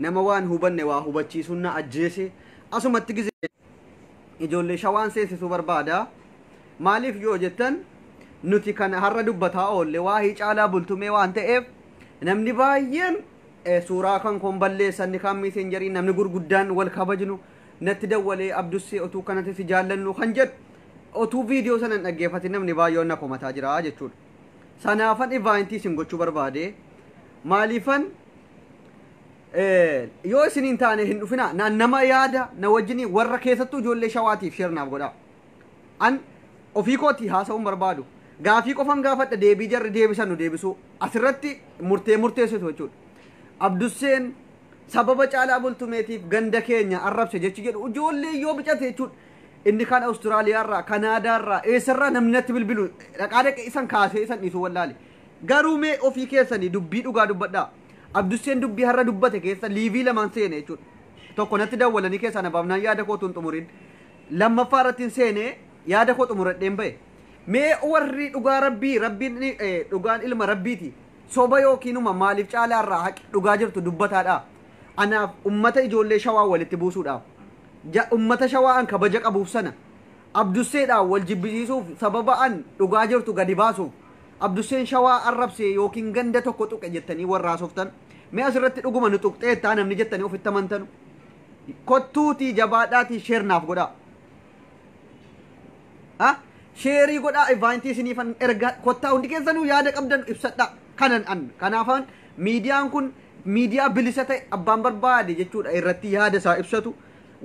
Nama waan hubanne waa hubachiisuun na ajjeese. Asumatti gizee ijoollee shawaan seensisuu barbaada. Maaliif yoo jettan nuti kan har'a dubbataa oolle waa'ee caalaa bultumee waan ta'eef namni baay'een eh, suuraa kan koon balleessan ni kaan miiseenjariin namni gurguddaan wal kabajnu natti dawwalee abdussee otuu kanatti si jaallannu kan jedhu otuu viidiyoo sana hin dhaggeeffatin namni baay'een na komataa jira jechuudha. Sanaafan ivaayintii isin gochuu barbaade. Maaliifan Eh, yoo isin hin taane hin dhufina na nama yaada na wajjin warra keessattuu ijoollee shawaatiif sheer naaf godhaa an ofii kootii haasa'uun barbaadu gaafii qofan gaafadha deebii jarri deebisan nu deebisuu asirratti murtee murteessitu jechuudha abdusseen sababa caalaa bultumeetiif ganda keenya arrabse jechi jedhu ijoollee yoo bicate jechuudha inni kan awustiraaliyaarraa kanaadaarraa eessarraa namni natti bilbilu dhaqaa dhaqe isan kaasee isan dhiisuu wallaale Garuu mee ofii keessanii dubbii dhugaa dubbadhaa. Abdusseen dubbii har'a dubbate keessa liivii lamaan seene jechuudha. Tokko natti dawwalanii keessaa na baafnaan yaada koo utuu hin xumuriin lammaffaa irrattiin seenee yaada koo xumuradheen bahe. Mee warri dhugaa Rabbii, Rabbiin ni, eh, dhugaan ilma Rabbiiti. Soba yookiinuma maaliif caalaa irraa haqi dhugaa jirtu dubbataadhaa. Anaaf ummata ijoollee shawaa walitti buusuudhaaf. Ja, ummata shawaa an kabaja qabuuf sana. Abdusseedhaan wal jibbisiisuuf sababa an dhugaa jirtu gadi baasuuf Abdusseen Shawaa arrabse ykn ganda tokko tuqe jettanii warra haasoftan mee asirratti dhuguma nu tuqxeetta namni jettanii ofitti amantanu kottuutii jabaadhaatii sheer naaf godhaa. Ha? Sheerii godhaa ivaantii isiniifan ergaa kottaa hundi keessanuu yaada qabdan ibsadhaa kanan an kanaafaan miidiyaan kun miidiyaa bilisa ta'e abbaan barbaade jechuudha irratti yaada isaa ibsatu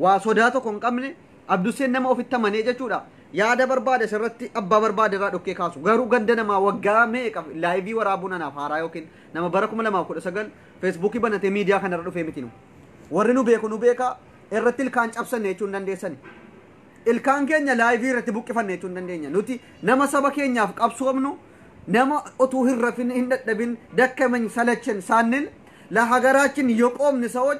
waa sodaa tokko hin qabne Abdusseen nama ofitti amanee jechuudha. Yaada barbaade sirratti abbaa barbaade irraa dhokkee kaasu. Garuu ganda namaa waggaa meeqa laayivii waraabuun anaaf haaraa yookiin nama bara 2019 feesbuukii banatee miidiyaa kanarra dhufee miti nu. Warri nu beeku nu beeka irratti ilkaan cabsanne jechuun dandeessani. Ilkaan keenya laayivii irratti buqqifanne jechuun dandeenya. Nuti nama saba keenyaaf qabsoomnu nama otuu hin rafin hin dadhabin dakkamen salachen saannil la hagaraachin yoqoomni sawoch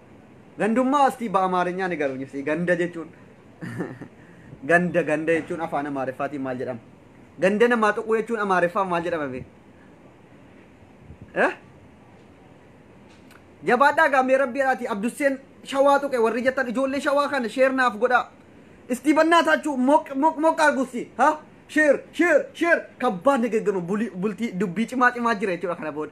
Gandummaa astii ba'amaarinyaa ni garuu nyifsii ganda jechuun ganda ganda jechuun afaan amaariffaatiin maal jedhama? Ganda namaa tuquu jechuun amaariffaan maal jedhama bee? Eh? Jabaadhaa gaamee rabbii irraati Abdusseen shawaa tuqe warri jettan ijoollee shawaa kana sheer naaf godhaa. Istii bannaa taachuu moq moq moq argussi ha sheer sheer sheer kabbaan nagaggamu bultii dubbii cimaa cimaa jira jechuudha kana booda.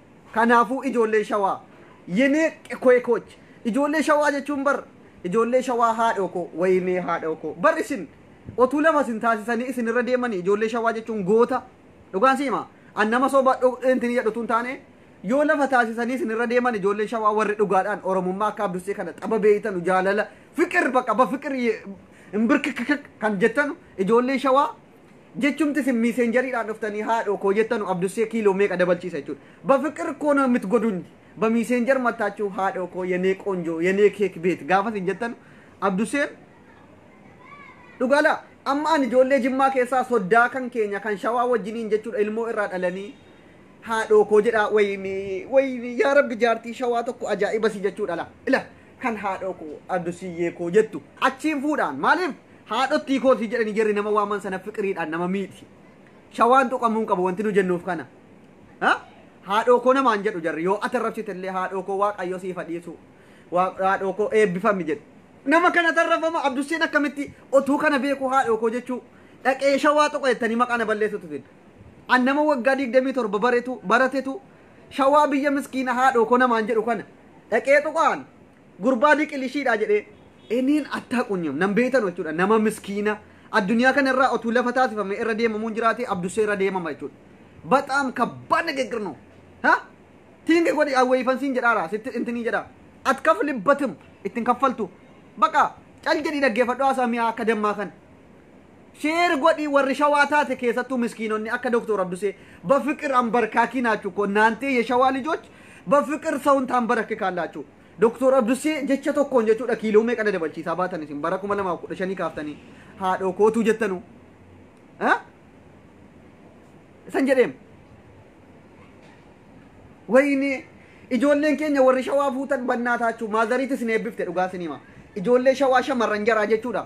Kanaafuu ijoollee shawaa yenee qekoekooch ijoollee shawaa jechuun bar ijoollee shawaa haadhoo koo wayinee haadhoo koo bar isin otuu lama isin taasisanii isin irra deemanii ijoollee shawaa jechuun goota dhugaan si hima an nama soba intin jedhu tun taane yoo lafa taasisanii isin irra deeman ijoollee shawaa warri dhugaadhaan oromummaa akka abdussee kana xaba beeytanu jaalala fiqir baqa ba fiqir hin birkikikik kan jettanu ijoollee shawaa Jechumti isin miiseenjariidhaan dhuftanii haadhoo koo jettanu Abdussee kiiloo meeqa dabalchiisa jechuudha. Bafiqir koo na mitgoduny bamiiseenjar mattaachuu haadhoo koo yenee qoonjoo yenee keek beet gaafa isin jettanu Abdusseen dhugaala amma ani ijoollee jimmaa keessaa soddaa kan keenya kan shawaa wajjiniin jechuudha ilmoo irraa dhalanii haadhoo koo jedhaa wayinii wayinii yaa rabbi jaartii shawaa tokko ajaa'iba si jechuudha la ila kan haadhoo koo Adusiyyee koo jettu achiin fuudhaan maaliif haadhottii kootii jedhanii jarri nama waaman sana fiqiriidhaan nama miiti. Shawaan tuqamuu hin qabu wanti nu jennuuf kana. Ha? Haadhoo koo namaan jedhu jarri yoo ati arrabsite illee haadhoo koo waaqayyo siif haa dhiisu. Waa- Haadhoo koo eebbifami jedhu. Nama kana tarrafama Abdusseen akkamitti otuu kana beeku haadhoo koo jechuu dhaqee shawaa tuqa jettanii maqaa na balleessutu fidda. An nama waggaa 27 baretu baratetu Shawaa biyya miskiina haadhoo ko namaan jedhu kana dhaqee tuqaan gurbaa diqilishiidha jedhee eniin attaa qunyam nan beeytan jechuudha nama miskiina addunyaa kana irraa otuu lafa taasifame irra deemamuun jiraate abdusee irra deemama jechuudha. Baxaam kabbaa nagegir no. Ha? Tiingi godhi awweeyfan siin jedhaara sitti intinii jedha. At kafli batim ittin kaffaltu. Baqa cal jedhii dhaggeeffadhu haasaa mi'aa akka dammaa kana. Share godhi warri shawaa taate keessattuu miskiinonni akka Doktor Abdusee bafiqir ambarkaakii naachuu koo naantee yeshawaa lijoch bafiqir sawun taambarakikaalaachuu Doktor Abdusee jecha tokkoon jechuudha kiiloo meeqa na dabalchiisaa baatan isin bara kuma lamaaf kudha shanii kaaftanii haadhoo kootuu jettanuu isan jedheem wayini ijoolleen keenya warri shawaa fuutan bannaa taachuu maazariitis ni eebbifte dhugaa sinima ijoollee shawaa shamarran jaraa jechuudha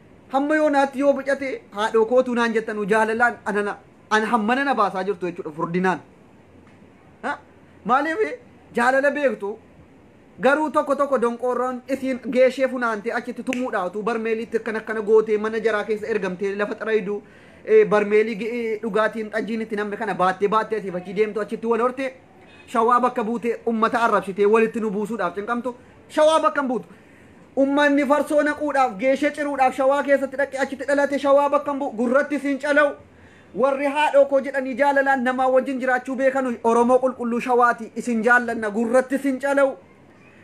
Hamma yoonaatti yoo bocate haadhoo kootuu naan jettanu jaalalaan anana an hammana na baasaa jirtu jechuudha furdinaan. Ha? Maaliif jaalala beektu garuu tokko tokko donqoorroon isiin geeshee funaantee achitti tumuudhaa utuu barmeeliitti akkana akkana gootee mana jaraa keessa ergamtee lafa xaraydu eh, barmeelii gi- eh, dhugaatiin xajjiin itti namni kana baattee baattee asiif achi deemtu achitti wal hortee shawaa bakka buutee ummata arrabsitee walitti nu buusuudhaaf cinqamtu shawaa bakka hin buutu Ummanni farsoo naquudhaaf, geeshee ciruudhaaf Shawaa keessatti dhaqee achitti dhalate Shawaa bakka hin bu'u, gurrattis hin cala'u. Warri haadhoo koo jedhanii jaalalaan namaa wajjin jiraachuu beekanuyi Oromoo qulqulluu Shawaati. Isin jaallanna, gurrattis hin cala'u.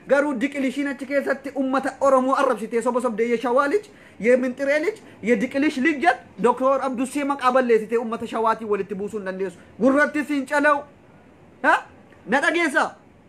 Garuu diqilishiin achi keessatti ummata Oromoo arrabsitee soba sobdee ye Shawaa lij, ye Minxiree lij, ye Diqilish lij jet Doktoor Abdussee maqaa balleessitee ummata Shawaatiin walitti buusuu hin dandeessu. Gurrattis hin cala'u. Ha? Na dhageessaa?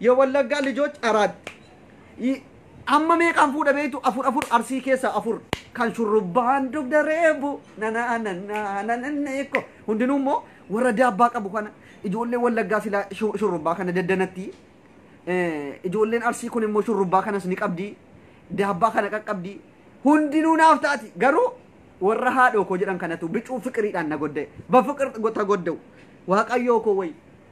Yewallaggaa lijoch araat y Amma meeqaan fuudha beektu afur afur arsii keessaa afur kan shurrubbaan dugda reebu nanaa nannaa nanannee ko hundinuu immoo warra daabbaa qabu kana ijoollee wallaggaa silaa shu- shurrubbaa kana daddanatti Eh, ijoolleen arsii kun immoo shurrubbaa kanas ni qabdi daabbaa kana qaqqabdi hundinuu naaf taati garuu warra haadhoo koo jedhan kanatu bicuu fiqiriidhaan na godde bafiqir ta godda'u waaqayyoo koo wayi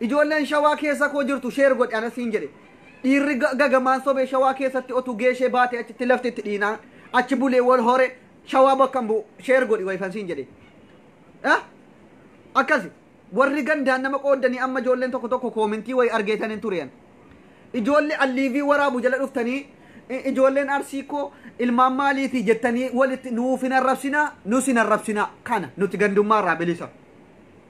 Ijoolleen shawaa keessa koo jirtu sheer godhi ana siin jedhe. Dhiirri ga- gagamaan sobee shawaa keessatti otuu geeshee baate achitti lafti itti dhiinaa. Achi bulee wal hore shawaa bakka hin bu'u sheer godhi wayifan siin jedhe. Eh? Akkasi warri gandaan nama qooddanii amma ijoolleen tokko tokko koomintii wayi argeetan hin turean. Ijoollee alliivii waraabu jala dhuftanii i- ijoolleen arsii koo ilmaan maaliiti jettanii walitti nuuf hin arrabsinaa nus hin arrabsinaa kana nuti gandummaa irraa bilisa.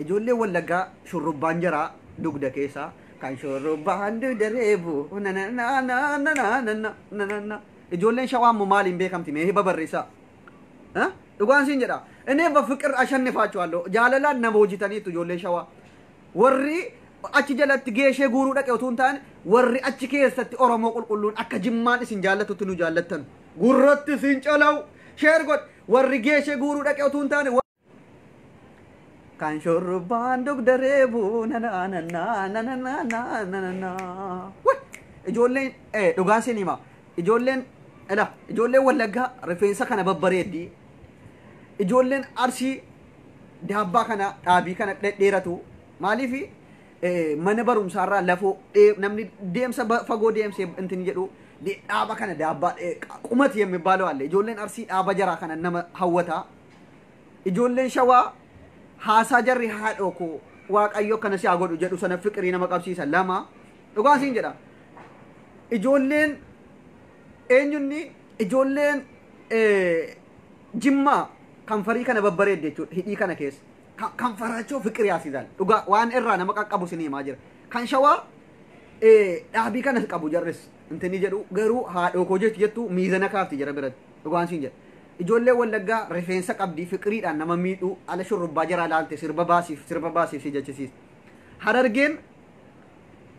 Ijoolleen Wallaggaa shurrubbaan jaraa dugda keessa kan shurrubbaan dugda reebu nanananananananananana. Ijoolleen Shawaa immoo maaliin beekamti mee hiba barreessaa. Eh? Dhugaan siin jedha. Inni bafiqir ashannifaachuwaallo jaalalaan nama hojitaniitu ijoolleen Shawaa. Warri achi jalatti geeshee guuruu dhaqe utuu hin taane warri achi keessatti Oromoo qulqulluun akka jimmaan isin jaallatutti nu jaallattan. Gurratti siin calawu. Sheer godh. Warri geeshee guuruu dhaqe utuu hin taane Kan shurrubbaan dugda reebu nanananaa nanananaa nananaa. Wai! Ijoolleen eh, dhugaa siin hima. Ijoolleen ila ijoolleen wallaggaa rifeensa kana babbareeddi. Ijoolleen arsii daabbaa kana dhaabii kana dhedheeratu. Maaliif eh, mana barumsaarraa lafoo dhee- namni deemsa ba- fagoo deemsee intin jedhu de- dhaaba kana daabbaa eh, qumat yemmibaalo alle ijoolleen arsii dhaaba jaraa kana nama hawwataa. Ijoolleen shawaa haasaa jarri haadhoo koo waaqayyo akkana si haa godhu jedhu sana fiqirii nama qabsiisa lama dhugaa siin jedha ijoolleen eenyunni ijoolleen eh, jimmaa kan farii kana babbareedde jechuudha hidhii kana keessa Ka- kan faraachoo fiqirii haasisan dhugaa waan irraa nama qaqqabu sin himaa jira kan shawaa eh, dhaabii kana qabu jarris intini jedhu garuu haadhoo koo jechi jettu miizana kaafti jira biratti dhugaan siin jedha Ijoollee wallaggaa rifeensa qabdii fiqiriidhaan nama miidhuu ala shurrubbaa jaraa laalte sirba baasiif sirba baasiif si jechisiiste. Harargeen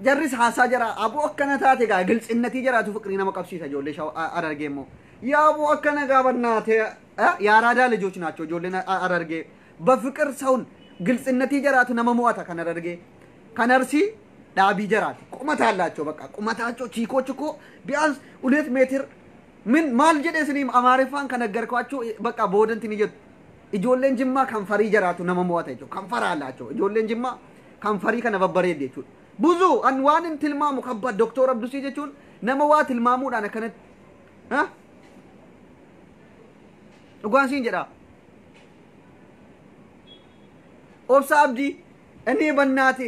jarris haasaa jaraa aboo akkana taate gaa giltsinnatii jaraatu fiqirii nama qabsiisa ijoollee shawa a- harargee immoo. Yaa aboo akkana gaa bannaate eh, yaa raadaa lijoch naachoo ijoolleen a- harargee. Bafiqir sawun giltsinnatii jaraatu nama mo'ata kan harargee. Kan arsii dhaabii jaraati. Qumataa laachoo bakka qumataa choo chiikoo chikoo biyaans ulet meetir Min maal jedhe isiniim amaariffaan kan aggarko achu bakka boodanti ni jettu. Ijoolleen jimmaa kan farii jaraatu nama mo'ata jechuudha. Kan faraa laachoo ijoolleen jimmaa kan farii kana babbareedde jechuudha. Buzu an waan hin tilmaamu kabba Dooktor Abdusii jechuun nama waa tilmaamuudhaan akkanatti. Ha? Dhugaan siin jedhaa. Obsa Abdii inni bannaati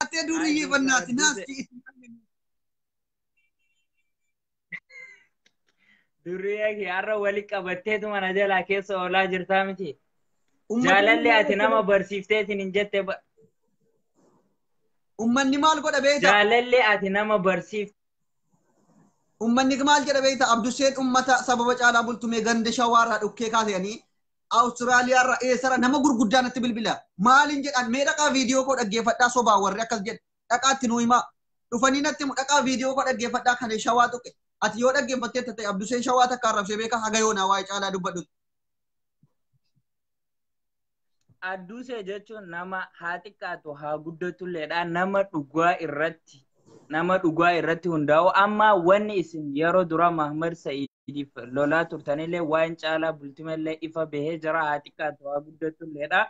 Hattee duuriyyee bannaati naasti. Durriyee kee har'a wali qabatteetu mana jalaa keessa oolaa jirtaa miti. Jaalalli ati nama barsiifteetiin hin jette ba- Ummanni maal godha beekta? jaalalli ati nama barsiifte. Ummanni maal jedha beekta? Abdusseen ummata sababa caalaa bultumee ganda shawaarraa dhukkee kaasanii Awustiraaliyaa irra eessara nama gurguddaa natti bilbila. Maaliin jedhaan mee dhaqaa viidiyoo koo dhaggeeffadhaa sobaa warri akkas jedhe dhaqaatti nuu himaa. Dhufanii natti himu dhaqaa viidiyoo koo dhaggeeffadhaa kan shawaa tuqe. Ati yoo dhaggeeffattee tattee Abduseen shawaa takka arrabsee beekaa haga yoonaa waa'ee caalaa dubbadhu. Addusee jechuun nama haa xiqqaatu haa guddatulleedha nama dhugaa irratti nama dhugaa irratti hundaa'u amma wanni isin yeroo dura Mahmad Sa'id waliif lolaa turtanillee waan caalaa bultimallee ifa bahee jira haa xiqqaatu haa guddatulleedha.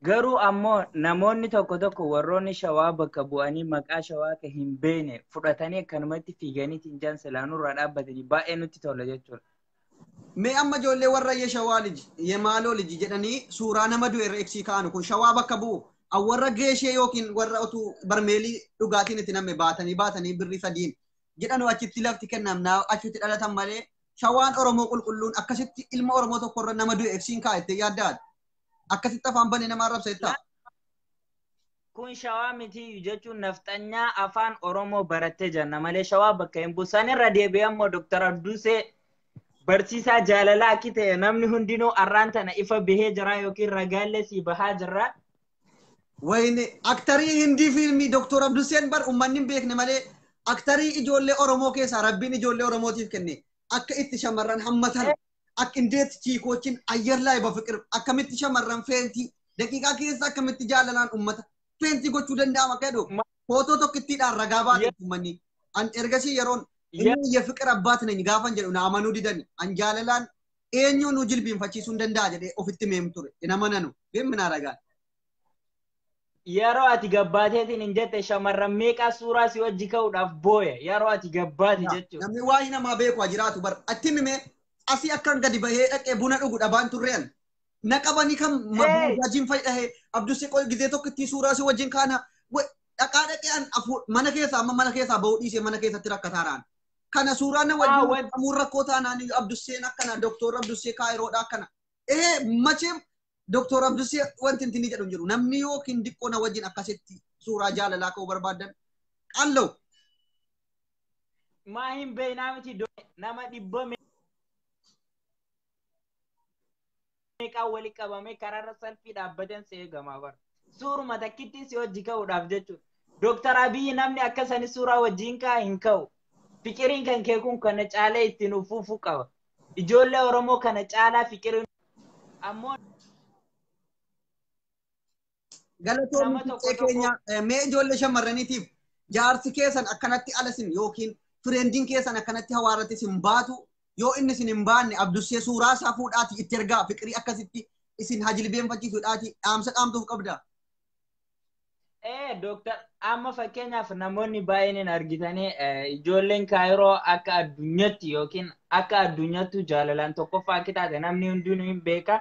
Garuu ammoo namoonni tokko tokko warroonni shawaa bakka bu'anii maqaa shawaa kan hin beekne fudhatanii akkanumatti fiiganii tinjaan silaa nurraa dhaabbatanii baay'ee nutti tola jechuudha. Mee amma ijoollee warra ye shawaa liji ye maaloo liji jedhanii suuraa nama du'e irra ibsii kaa'anu kun shawaa bakka bu'u warra geeshee yookiin warra otuu barmeelii dhugaatiin itti namme baatanii baatanii birrii sadiin jedhanoo achitti lafti kennam naa achitti dhalatan malee shawaan Oromoo qulqulluun akkasitti ilma Oromoo tokko irra nama du'e ibsiin kaa itti yaaddaadha. Akkasitti afaan banee nama arrabsa jettaa. Kun shawaa mitiiyyu jechuun nafxanyaa afaan Oromoo barattee janna malee shawaa bakka hin bu'u. Sanirra deebi'ee immoo Dooktar Abduusee barsiisaa jaalalaa akki ta'e namni hundinuu arraan tana ifa bahee jira yookiin ragaallee sii bahaa jirra. Wayne aktarii hindii fiilmii Dr. Abduseen bar ummanni hin beekne malee aktarii ijoollee Oromoo keessaa rabbiin ijoollee Oromootiif kenne akka itti shamarran hammatan akka indeet chiikoochin ayyar laay bafiqir akkamitti shamarran feentii daqiiqaa keessa akkamitti jaalalaan ummata feentii gochuu danda'ama akka jedhu footoo tokkittiidhaan ragaa baate ummanni an ergasii yeroon inni iyya fiqir abbaat nany gaafan jedhu na amanuu didani an jaalalaan eenyuu nu jilbiinfachiisuu hin danda'a jedhee ofitti meem ture. Hin amananu. Beem minaa ragaan. Yeroo ati gabbaateetiin hin jette shamarran meeqaa suuraa si wajji ka'uudhaaf booya. Yeroo ati gabbaate jechuudha. Namni waa'ee namaa beeku haa jiraatu bar. Atti himime asii akkan gadi bahee dhaqee buna dhugu dhabaan turre an. Na qabanii kan mabuujaajiin fayyadahee abdu siqoo gizee tokko ittiin suuraa si wajjin kaana dhaqaa dhaqee an mana keessaa amma mana keessaa bahuu dhiisee mana keessatti rakkataa raan. kana suuraa na wajjin Aawwan. qamuun rakkoo taanaan Abdusseen akkana Doktor Abdussee Kaayiroodha akkana. Ee macheem Doktor Abdussee wanti inni jedhu hin jiru namni yookiin diqqoo na wajjin akkasitti suuraa jaalalaa ka'uu barbaadan qal'oo. Maa hin beeknaa miti do- nama dhibba meeqaa wali qabamee karaarra salfii dhaabbateen si eegamaa bara. Suuruma takkittiin si hojii ka'uudhaaf jechuudha. Dooktar Abiyyi namni akka sani suuraa wajjin ka'a hin ka'u. Fiqiriin kan kee kun kana caalee ittiin uffufuu qaba. Ijoollee Oromoo kana caalaa fiqiriin ammoo Galatoomi Nama tokko fiixee tokko- keenya eh, mee ijoollee shamarraniitiif jaarsi keessan akkanatti ala isin yookiin fireendiin keessan akkanatti hawaarratti isin baatu yoo inni isin hin baanne abdussee suuraa isaa fuudhaati itti ergaa fiqirii akkasitti isin hajilbeenfachiisuudhaati dhaamsa dhaamtuuf qabda. Ee, Dooktar, amma fakkeenyaaf namoonni baay'een hin argitanii eh, ijoolleen kaayiroo akka addunyaatti yookiin akka addunyaattuu jaalalaan tokkoffaa akka taate namni hundinuu hin beeka.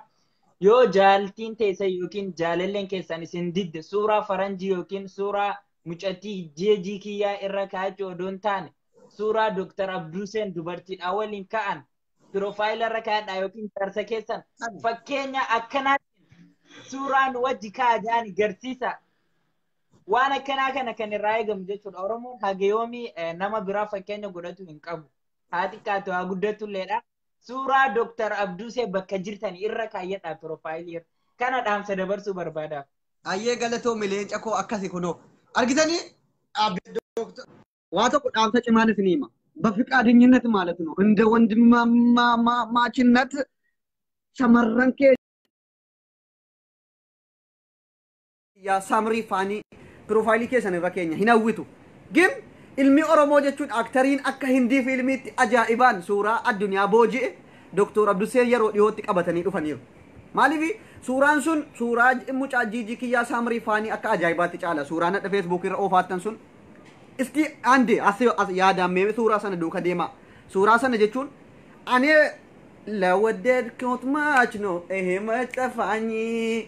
Yoo jaaltiin teessan yookiin jaalalleen keessan isin didde suuraa faranjii yookiin suuraa mucattii jeejii kiyyaa irra kaa'achuu odoo hin taane suuraa Dr. Abduuseen dubartiidhaa waliin ka'an piroofaayila irra kaa'adhaa yookiin jaarsa keessan fakkeenya akkanaatiin suuraa nu wajji kaa'a jaani garsiisa. Waan akkanaa kana kan irraa eegamu jechuudha. Oromoon hageyoomii nama biraa fakkeenya godhatu hin qabu. Haa xiqqaatu haa guddatulleedha. suuraa Dr. Abduusee bakka jirtan irra kaayyadhaa piroofaayilii irra. Kana dhaamsa dabarsuu barbaadaaf. Ayyee galatoomi leenca koo akkasi kunoo. Argitanii dhaabbii dooktar. Waa tokko dhaamsa cimaan isin hima. Bafiqaadinyinnat maalat nu inda wandimmaamaachinnat shamarran kee yaa samrii faanii piroofaayilii keessan irra keenya hin hawwitu gim ilmi oromoo jechuun aktariin akka hindii fiilmiitti ajaa'ibaan suuraa addunyaa booji'e doktor abduseen yeroo dhihootti qabatanii dhufaniiru maaliif suuraan sun suuraa mucaa jiijii kiyyaa samrii faanii akka ajaa'ibaatti caala suuraa nadha feesbuukii irra oofaattan sun isti ande as yaadaan mee suuraa sana duuka deemaa suuraa sana jechuun anee lawaddeed kootmaachno ehe maxafaanyii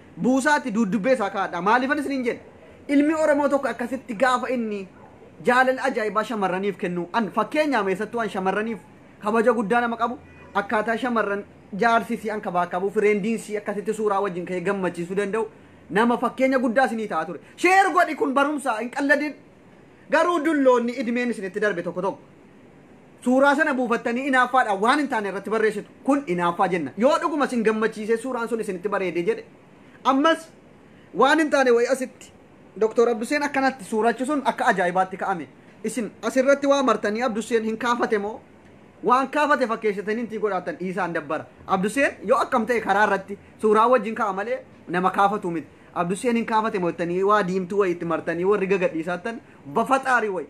buusaati duuddubbee isaa kaa'adhaa. Maaliifan isiniin jedhe? Ilmi Oromoo tokko akkasitti gaafa inni jaalala ajaa'ibaa shamarraniif kennu, an fakkeenyaam eessattuu an shamarraniif kabaja guddaa nama qabu, akkaataa shamarran jaarsi isii ankabaakabuu, fireendiin isii akkasitti suuraa wajjin ka'ee gammachiisuu danda'u, nama fakkeenya guddaa isinii ta'a ture. Share godhi kun barumsa hin qalladin. Garuu dulloonni idmeen isinitti darbe tokko tokko. Suuraa sana buufattanii inaaffaadhaan waan hin taane irratti barreessitu. Kun inaaffaa jenna. Yoo dhuguma isin gammachiisee suuraan sun isinitti bareedee jedhe ammas waan hin taane wayii asitti Doktor Abduseen akkanatti suurachi sun akka ajaa'ibaatti ka'ame. Isin asirratti waa martanii Abduseen hin kaafate moo waan kaafate fakkeessitanii intii godhaatan dhiisaan dabbara. Abduseen yoo akkam ta'e karaa irratti suuraa wajjin ka'a malee nama kaafatu miti. Abduseen hin kaafate moo jettanii waa diimtuu wayii itti martanii warri gagadhiisaattan bafaxaarii wayii.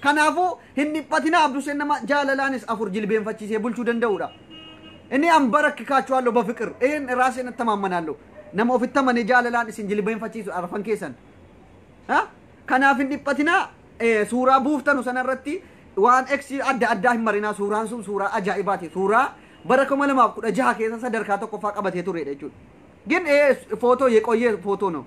Kanaafuu, hin dhiphatinaa Abduseen nama jaalalaanis afur jilbeenfachiisee bulchuu danda'uudha. Inni anbarakikaachuwaallo bafiqir, een raaseen attamaammanaallo. Nama ofitti amanee jaalalaan isin jilbeenfachiisu arfan keessan. Ha? Kanaaf hin dhiphatinaa eh, suuraa buuftanu sana irratti waan X adda addaa hin marinaa suuraan sun suuraa ajaa'ibaati. Suuraa bara 2016 keessa sadarkaa tokkoffaa qabatee turedha jechuudha. Gin eh, footoo yeqoyyee footoo no.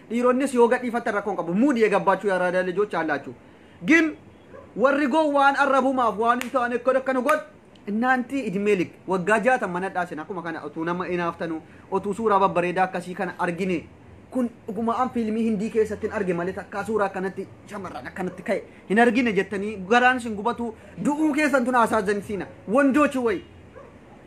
Dhiironnis yoo gadhiifattan rakkoo hin qabu. Muud yegabbaachu yaaraadaa lijoch aallaachu. Gin warri gowwaan arrabumaaf waan hin taane akka akkana godhu Innaanti idmee lik waggaa jaatan mana dhaasen akkuma kana otuu nama inaaftanu otuu suuraa babbareedaa akkasii kana argine kun dhuguma an fiilmii hindii keessattin arge malee takkaa suuraa akkanatti shamarran akkanatti ka'e hin argine jettanii garaan isin gubatu du'uu keessan tun haasaa zansiina wandoochi wayi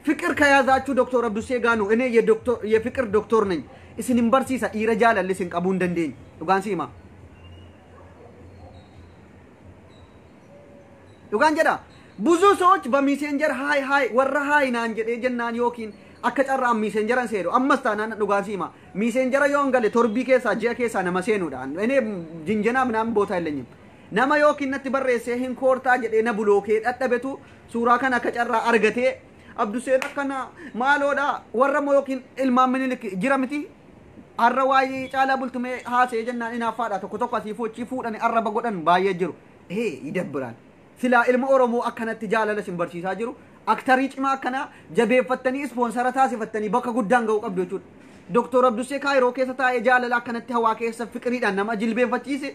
Fiqir kayaazaachu doktor abdussee gaanu inee ye doktor ye fiqir doktor nany isin hin barsiisa dhiira jaalalle isin qabuu hin dandeenye dhugaan si himaa dhugaan jedha buzuu sooch ba miiseenjar haay haay warra haay naan jedhee jennaan yookiin akka carraa an miiseenjaran seenu ammas taanaan dhugaan si himaa miiseenjara yoo hin gale torbii keessaa ji'a keessaa nama seenuudha inee jinjenaa minaamin bootaa hin lenyim nama yookiin natti barreessee hin koortaa jedhee na bulookee dhadhabetu Suuraa kana akka carraa argatee Abduseen akkana maaloodha warra moo yookiin ilmaan minilik jira miti har'a waa'ee caalaa bultumee haasa'ee jennaan inaaffaadha tokko tokko asii fochii fuudhani arraba godhan baay'ee jiru. Ee idabbiraan silaa ilma Oromoo akkanatti jaalala isin barsiisaa jiru aktarii cimaa akkanaa jabeeffattanii ispoonsara taasifattanii bakka guddaan ga'uu qabdu jechuudha. Doktor Abdussee Kaayiroo keessa taa'ee jaalala akkanatti hawaa keessa fiqiriidhaan nama jilbeeffachiise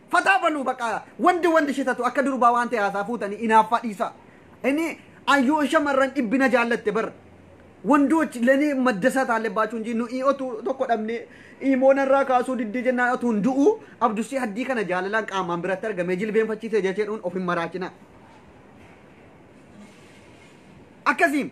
Fataa baluu baqa wandi wandi shitatu akka durbaa waan ta'e haasaa fuutanii inaaffaa dhiisaa. Inni ayyoon shamarran dhibbina jaallatte bar. Wandoch leni maddasaa taalle baachuu hin jiru nuyi otuu tokko dhabne imoo narraa kaasuu diddee jennaan otuu hin du'u abdusii haddii kana jaalalaan qaamaan biratti argamee jilbeenfachiisee jechuun of hin maraachina. Akkasiin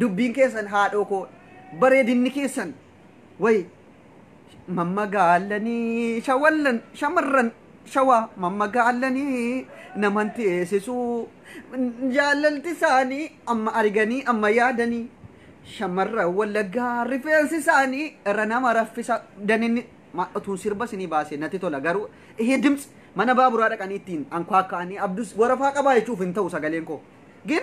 Dubbiin keessan haadhoo koo bareedinni keessan wayi mammagaalanii shawallan shamarran shawaa mammagaalanii naman teessisuu jaalalti isaanii amma arganii amma yaadanii shamarran wallaggaa rifeensi isaanii irra nama raffisa daninni ma- utuun sirba isinii baase natti tola garuu ihe dimts mana baaburaa dhaqanii ittiin ankwaakka'anii abdus warafaa qabaa jechuuf hin ta'u sagaleen koo gin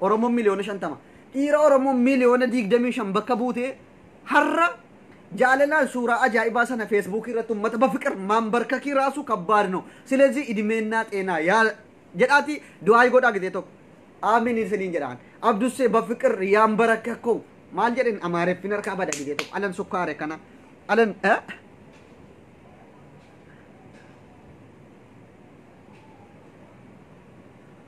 Oromoon miliyoona 50 dhiira Oromoo miliyoona 25 bakka buutee har'a jaalalaan suuraa ajaa'ibaa sana feesbuukii irratti uummata bafiqir maanbarkakii raasuu kabbaad no silezii idimeennaa xeenaa yaa jedhaati du'aayi godhaa gizee tokko aamin isiniin jedhaan abdussee bafiqir yaan barakkakkoo maal jedhin amaareffin harkaa bada gizee tokko alan sukkaare kana alan eh?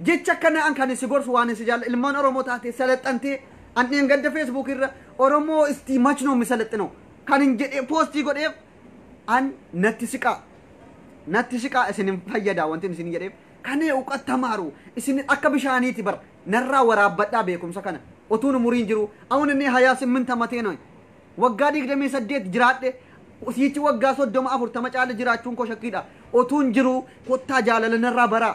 Jecha akka na'an kan si gorsu waan si jaalla ilmaan Oromoo taatee salaxxantee an dheengadda Facebook irra Oromoo istii machnoo misalaxxinoo kan hin jedhee poostii godheef an natti siqaa natti siqaa isin hin fayyadaa wanti isin jedheef kan uqat tamaaru isin akka bishaaniiti bar narraa waraabbadhaa beekumsa kana otuun umuriin jiru awun inni hayaa simmin tamatee noy waggaa digdamii saddeet jiraadhe siichi waggaa soddoma afurtama caala jiraachuun koo shakkiidha otuun jiru kottaa jaalala narraa baraa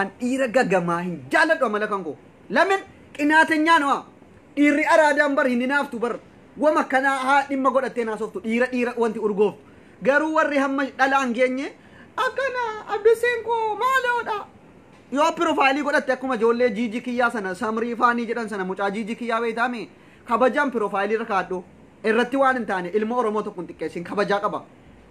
an dhiira gagamaa hin jaaladhu amala kan koo lamin qinaatenyaa nawa dhiirri araadaan bar hin hinaaftu bar wama kanaa haa dhimma godhattee naasoftu dhiira dhiira wanti urgooftu garuu warri hamma dhalaan geenye akkana abduseen koo maaloodha yoo pirofaalii godhatte akkuma ijoollee jiiji kiyyaa sana samrii faanii jedhan sana mucaa jiiji kiyyaa beeytaame kabajaan pirofaalii irra kaadhu irratti waan hin taane ilma oromoo tokko hin xiqqeessin kabajaa qaba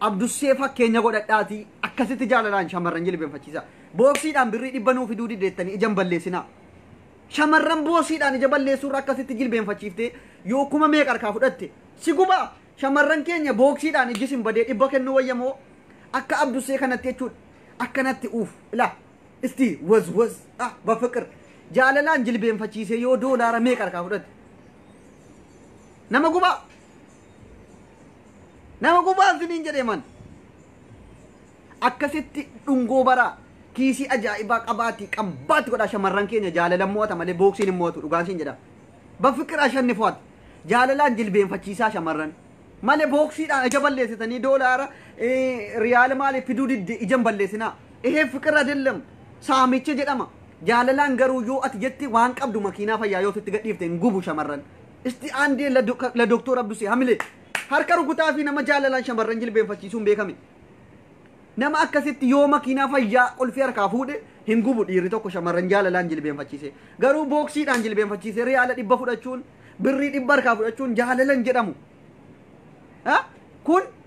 Abdussee fakkeenya godhadhaatii akkasitti jaalalaan shamarran jilbeenfachiisaa. Booksiidhaan birrii dhibba nuu fiduu dideettanii ija hin balleessinaa. Shamarran boosiidhaan ija balleessuurra akkasitti jilbeenfachiiftee yoo kuma meeqa harkaa fudhatte si gubaa. Shamarran keenya booksiidhaan ijji sin badee dhibba kennuu wayya moo akka abdussee kanatti jechuudha. Akkanatti uuf ilaa isti waz waz ah bafiqir jaalalaan jilbeenfachiisee yoo doolaara meeqa harkaa fudhatte nama gubaa. Nama gubaan siniin jedhee man. Akkasitti dhungoo baraa kiisii ajaa'ibaa qabaatii qabbaatti godhaa shamarran keenya jaalalan mo'ata malee booksiin hin mo'atu dhugaan siin jedha. Bafiqir ashannifwaat jaalalaan jilbeenfachiisaa shamarran malee booksiidhaan ija balleessitanii doolaara eh, riyaala maaliif fiduu didde ija hin balleessinaa. Ehee fiqir adellam saamicha jedhama. Jaalalaan garuu yoo ati jette waan qabdu makiinaa fayyaa yoo sitti gadhiifte hin gubu shamarran. Isti aandee la doka- la Doktoor Abdusee Hamilee harka rukutaa fi nama jaalalaan shamarran jilbeenfachiisuun beekame. Nama akkasitti yoo makiinaa fayyaa qulfii harkaa fuudhe hin gubu dhiirri tokko shamarran jaalalaan jilbeenfachiise. Garuu booksiidhaan jilbeenfachiise riyaala dhibba fudhachuun birrii dhibba harkaa fudhachuun jaalalan jedhamu. Ha? Kun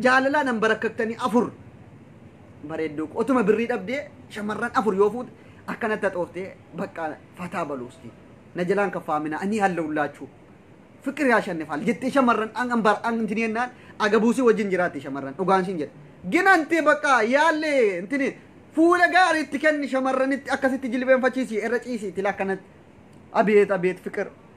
Jaalalaan hambarakkaktanii afur bareedduu koo. Otuma birrii dhabdee shamarran afur yoo fuute akkanatti haxooftee bakka fataa balu usti. Na jalaan kaffaaminaa anii hallawullaachuu. Fiqir yaa shannifaal jettee shamarran an an bar an intini jennaan agabuusii wajjin jiraatti shamarran dhugaan siin jedhe. Gin anti bakka yaalle intini fuula gaarii itti kenni shamarranitti akkasitti jilbeenfachiisi irra ciisi tila akkanatti. Abeet abeet fiqir.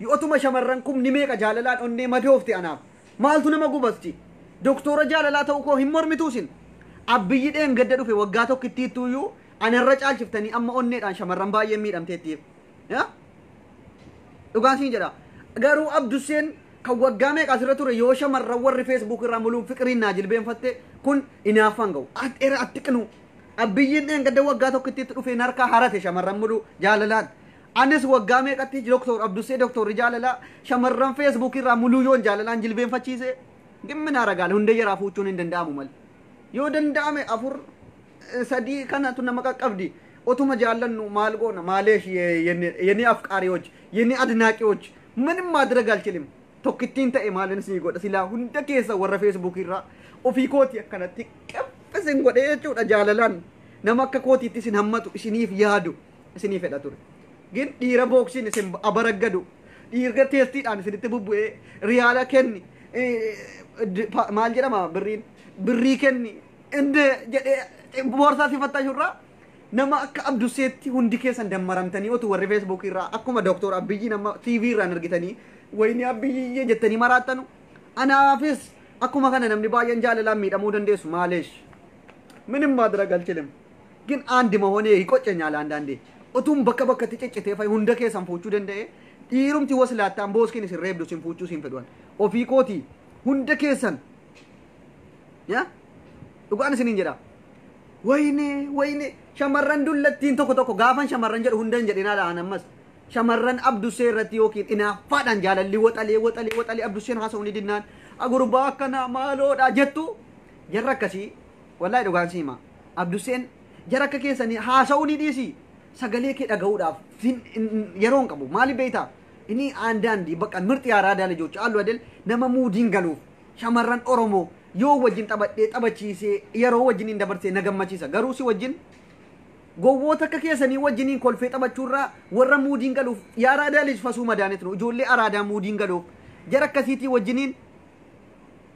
Yootuma shamarran kumni meeqa jaalalaan onnee madoofte anaaf maaltu nama gubasji? Doktoora jaalalaa ta'uu koo hin mormituu isin? Abbiyyi dheengadda dhufe waggaa tokkittiittuu iyyuu ana irra caalchiftanii amma onneedhaan shamarran baay'een miidhamteettiif. Yaa? Dhugaan siin jedha. Garuu Abdusseen kan waggaa meeqa asirra ture yoo shamarran warri Facebook irraa muluun fiqiriin naa jilbeenfatte kun inaaffaan ga'u. At era at xiqnuu. Abbiyyiin dheengadda waggaa tokkittiitti dhufee narkaa harate shamarran muluu jaalalaan. Anis waggaa meeqatti Doktor Abdussee Doktorri jaalalaa shamarran Facebook irraa Muluuyoon jaalalaan jilbeenfachiisee dhimmi naa ragaale hundee jaraa fuuchuun hin danda'amu mali. Yoo danda'ame afur eh, sadii kanatu nama qaqqabdi otuma jaallannu maal goona maaleesh ye- yene yene afqaariyoch yene adnaaqiyoch manim maadira galchilim tokkittiin ta'e maalin sii godha silaa hunda keessa warra Facebook irraa ofii kooti akkanatti qephisin godhee jechuudha jaalalaan nama akka kootiitti isin hammatu isiniif yaadu. isinii fedha ture gin dhiira booksiin isin abaraggadu dhiirga teestiidhaan isinitti bubbu'ee riyaala kenni maal jedhama birriin birrii kenni inni jedhee boorsaa si fattashurraa nama akka abdusseetti hundi keessan dammaramtanii otu warri feesbuukii irraa akkuma dooktor abbiyyi nama tv irraan argitanii wayinii abbiyyi jettanii maraattanu anaafis akkuma kana namni baay'een jaalalaan miidhamuu dandeessu maaleesh minim maadira galchilim Gin and mahonee hi qocenyaal andaandee otuun bakka bakkatti ciccitee fay hunda keessan fuuchuu danda'ee dhiirumti waslaattaan booskiin isin reebdu isin fuuchuu isin fedhuan ofii kootii hunda keessan ya dhugaan isiniin jedha wayne wayne shamarran dullattiin tokko tokko gaafan shamarran jedhu hunda hin jedhin haala an ammas shamarran abdussee irratti yookiin inaaffaadhaan jaalalli waxalee waxalee waxalee abdusseen haasa'uu ni dinnaan agurbaa akkanaa maaloodha jettu jarra akkasii Wallahi dhugaan si hima Abdusseen jara akka keessanii haasa'uu ni dhiisii sagalee kee dhaga'uudhaaf fin yeroo hin qabu maaliif beektaa inni aandaandi bakka mirxi yaaraadaa lijochi allu adel nama muudiin galuuf shamarran oromoo yoo wajjin taphadhee taphachiisee yeroo wajjin hin dabarsee na gammachiisa garuu si wajjin gowwoota akka keessanii wajjiniin kolfee taphachuurraa warra muudiin galuuf yaaraadaa lij fasuu madaanet nu ijoollee araadaa muudiin galuuf jara akkasiitii wajjiniin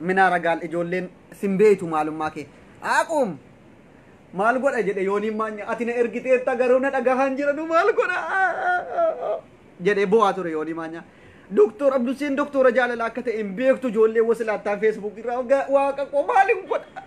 Minaara gaal ijoolleen sin beeytu maalummaa kee. Aquum! Maal godha jedhe yooniin maanya ati na ergiteetta garuu na dhagahaan jiranu maal godha jedhe bo'aa ture yoonii maanya. Doktor Abduseen doktora jaalala akka ta'e hin beektu ijoollee wasilaattaan feesbuukii irraa waggaa waaqa koo maal hin godha.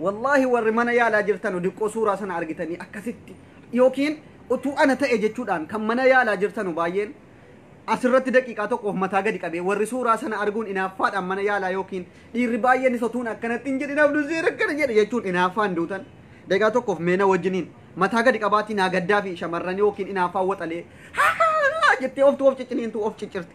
Wallaahi warri mana yaalaa jirtanu diqqoo suuraa sana argitanii akkasitti yookiin utuu ana ta'e jechuudhaan kan mana yaalaa jirtanu baay'een asirratti daqiiqaa tokkoof mataa gadi qabee warri suuraa sana arguun inaaffaadhaan mana yaalaa yookiin dhiirri baay'een isa tuun akkanatti hin jedhin abduu seera akkana jedhe jechuun inaaffaan duutan daqiiqaa tokkoof meena wajjiniin mataa gadi qabaatii naa gaddaa fi shamarran yookiin inaaffaa waxalee haa jettee oftu of cicciniintu of ciccirti.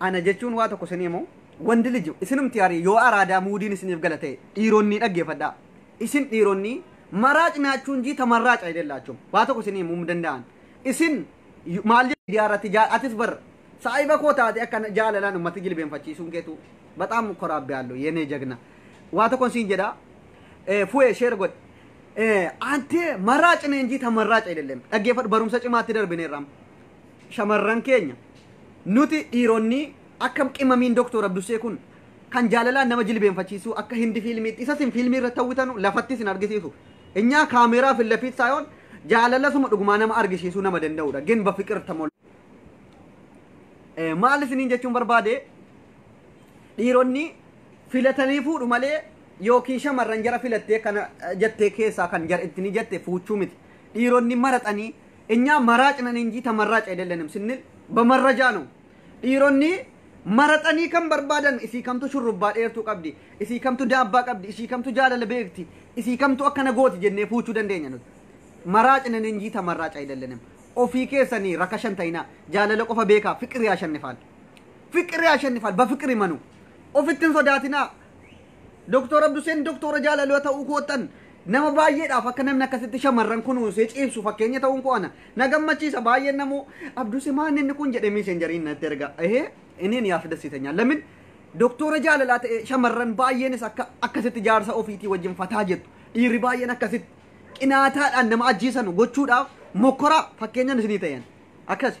ana jechuun waa tokko isinii himu wandi liji isinumti arii yoo araadaa muudiin isiniif gala ta'e dhiironni dhaggeeffadhaa isin dhiironni maraac nyaachuun jiita maraac ayidellaachum waa tokko isinii himu hin danda'an isin yu- maal jedhu miidiyaa irratti jaa- atis bar saahiba koo taate akka jaalalaan ummati jilbeenfachiisuun keetu baxaam koraabbi haallu yenee jagna waa tokkon siin jedha Eh, fu'ee sheer godhe Anti marraac ne injii ta marraac ayidellem. Dhaggeeffadhu barumsa cimaatti darbineerra amma. Shamarran keenya nuti dhiironni akka qimamiin doktor Abdushee kun kan jaalalaan nama jilbeenfachiisuu akka hindi fiilmiitti isa sin fiilmii irratti hawwitanu lafatti sin argisiisu. Inyaa kaameeraa fi lafiit saayoon jaalala suma dhugumaa nama argisiisuu nama danda'udha. Gin bafiqir tamol. Maal isiniin jechuun barbaade Dhiironni filatanii fuudhu malee yookiin shamarran jara filattee kana jettee keessaa kan jara ittini jette fuuchuu miti. Dhiironni maraxanii inyaa maraacnan injii ta marraac edellenim sinnil bamarrajaa ነው። Dhiironni maraxanii kan barbaadan isii kamtu shurrubbaa dheertuu qabdi, isii kamtu daabbaa qabdi, isii kamtu jaalala beekti, isii kamtu akkana gooti jennee fuuchuu dandeenya nuti. Maraacnan injii ta marraac edellenim. Ofii keessanii rakashan ta'inaa jaalala qofa beekaa fiqir yaa shannifaan. Fiqir yaashannifal bafiqir imanu. Ofitti hin sodaatinaa. Doktor Abduseen doktora jaalaloo ta'uu koottan nama baay'eedhaaf akka namni akkasitti shamarran kunuunsee ciibsu fakkeenya ta'uun koo ana na gammachiisa baay'een namoo Abduse maan inni kun jedhee miiseenjariin natti erga ehee inni yaaf dassitanya lamin doktora jaalalaa ta'e shamarran baay'eenis akka akkasitti jaarsa ofiitii wajjin fataa jettu dhiirri baay'een akkasitti qinaataadhaan nama ajjeesanu gochuudhaaf mokkoraa fakkeenyan isinii ta'een akkasi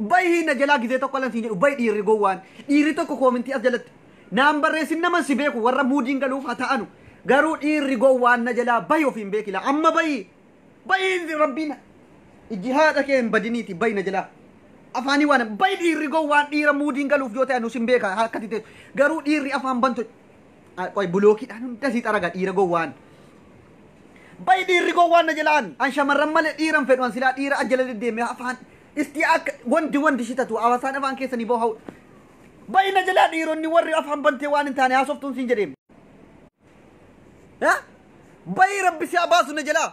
Bahi na jalaa gizee tokko lan siin jedhu bahi dhiirri gowwaan dhiirri tokko koomintii as jalatti naan barreessin naman si beeku warra muudiin galuuf ha ta'anu garuu dhiirri gowwaan na jalaa bahi ofiin beekila amma bahi bahi rabbiin ijji haadha kee hin badiniiti bahi na jalaa afaanii waan bahi dhiirri gowwaan dhiira muudiin galuuf yoo ta'e nu sin beeka akkati teessu garuu dhiirri afaan bantu Ah, Qoy bulookiidhaan hunda sii xaraga dhiira gowwaan. Bayi dhiirri gowwaan na jalaan. An shamarran malee dhiiran fedhu an silaa dhiira ajjala deddeemee afaan. Isti akka wandi wandi shi tatu hawaasaan afaan keessanii boo hawudha. Bayi na jalaa dhiironni warri afaan bantee waan hin taane haasoftuun siin jedheem. Ha? Bayi rabbi si haa baasu na jalaa.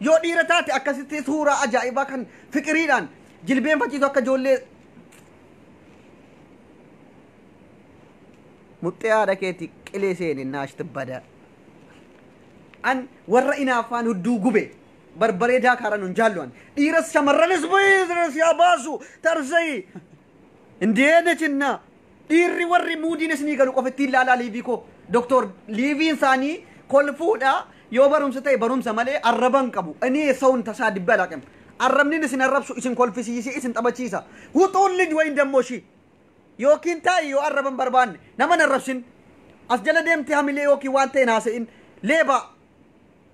Yoo dhiira taate akkasitti suuraa ajaa'ibaa kan fiqiriidhaan jilbeenfachiitu akka ijoollee muxxee haadha keetti qilee seeni naashti bada. An warra inaaffaan hudduu gube barbaree daakaara nun jaallu an dhiiras shamarranis bayii yaa baasu tarsayii. Indee nechinna Dhiirri warri muudiin isinii galu qofa ittiin laalaa liivii koo. Doktor liiviin isaanii kolfuudha yoo barumsa ta'e barumsa malee arraban qabu. Inni saun tasaa dibbe alaaqim. Arrabnin isin arrabsu isin kolfisiisee isin taphachiisa. Wuxuun lij wayin dammoo ishii. Yookiin taa'i yoo arraban barbaanne nama hin arrabsin. As jala deemtee hamilee yookiin waan ta'e hin haasa'in. Leebaa.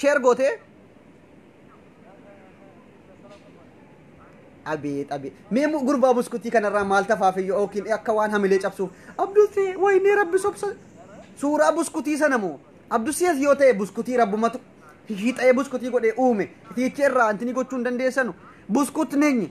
Share gootee. Abeet abeet. Mee mu- gurbaa buskutii kanarraa maal tafaafiyyo yookiin akka waan hamilee cabsuuf. Abdusee waynee rabbi sobsa. Suuraa buskutii sana moo. Abdusees yoo ta'e buskutii rabbumatu hiixee buskutii godhee uume. Hiicha irraa antini gochuu hin dandeessanu. Buskut neenyi.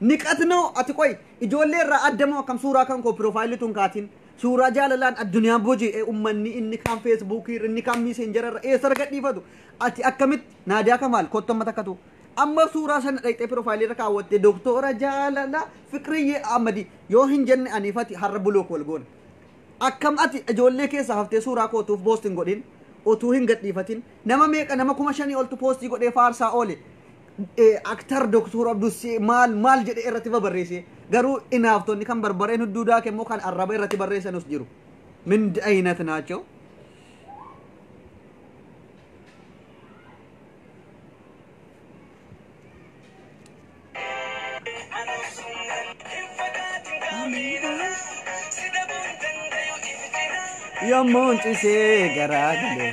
Niqatnoo ati qoy ijoollee irraa adda moo akkam suuraa kan koo piroofaayilii tun kaatiin suuraa jaalalaan addunyaa boji'e ummanni inni kaan feesbuukii irra inni kaan miiseenjara irra eessa argadhiifatu ati akkamitti naadiyaa kamaal kottu amma takkatu amma suuraa sana dhaqxee piroofaayilii irra kaawwatte doktoora jaalala fiqriyyee amadi yoo hin jenne aniifati har'a bulook wal goona akkam ati ijoollee keessa haftee suuraa kootuuf poostiin godhin otuu hin gadhiifatin nama meeqa nama kuma shanii oltu poostii godhee faarsaa oole Aktar Doktor Abdussee maal maal jedhee irratti babarreesse garuu inaaftonni kan barbareen hudduu daake immoo kan arraba irratti barreessanus jiru. Min ayinat naachoo. Yommuun cisee garaa galee.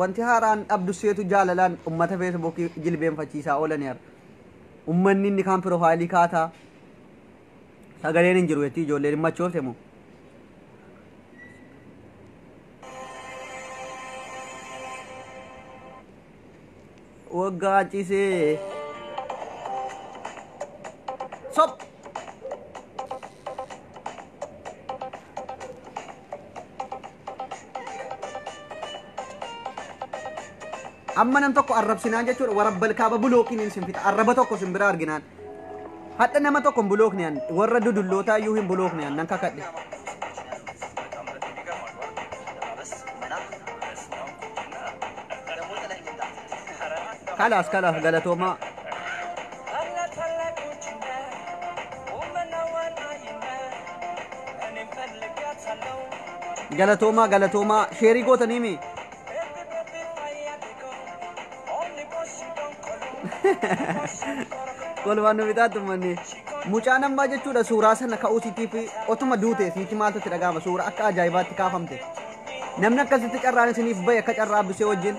wanti haaraan dhabdu seetu jaalalaan ummata feesbuukii jilbeenfachiisaa oolaniiru. Ummanni inni kaan piroofaayilii kaataa sagaleen hin jiru jechuun ijoolleen hin machoofte moo? waggaa cisee sob amma nam tokko arrabsinaan jechuudha warabbal kaaba bulookiin isin fita arraba tokko sin biraa arginaan Hadha nama tokko hin bulookne an warra dudullootaa iyyuu hin bulookne an nan kakadhe. Kalaas kalaas galatoomaa. Galatoomaa galatoomaa sheerii gootaniimi. kolfaan nu bitaatti ummanni mucaan ammaa jechuudha suuraa sana ka'uu siitiif otuma duute siiti maaltu itti dhaga'ama suuraa akka ajaa'ibaatti kaafamte namni akkasitti carraan isiniif bahe akka carraa bisee wajjin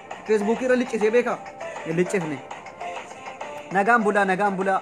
Feesbuukii irra liccisee beekaa? Hin liccifne. Nagaan bulaa nagaan bulaa.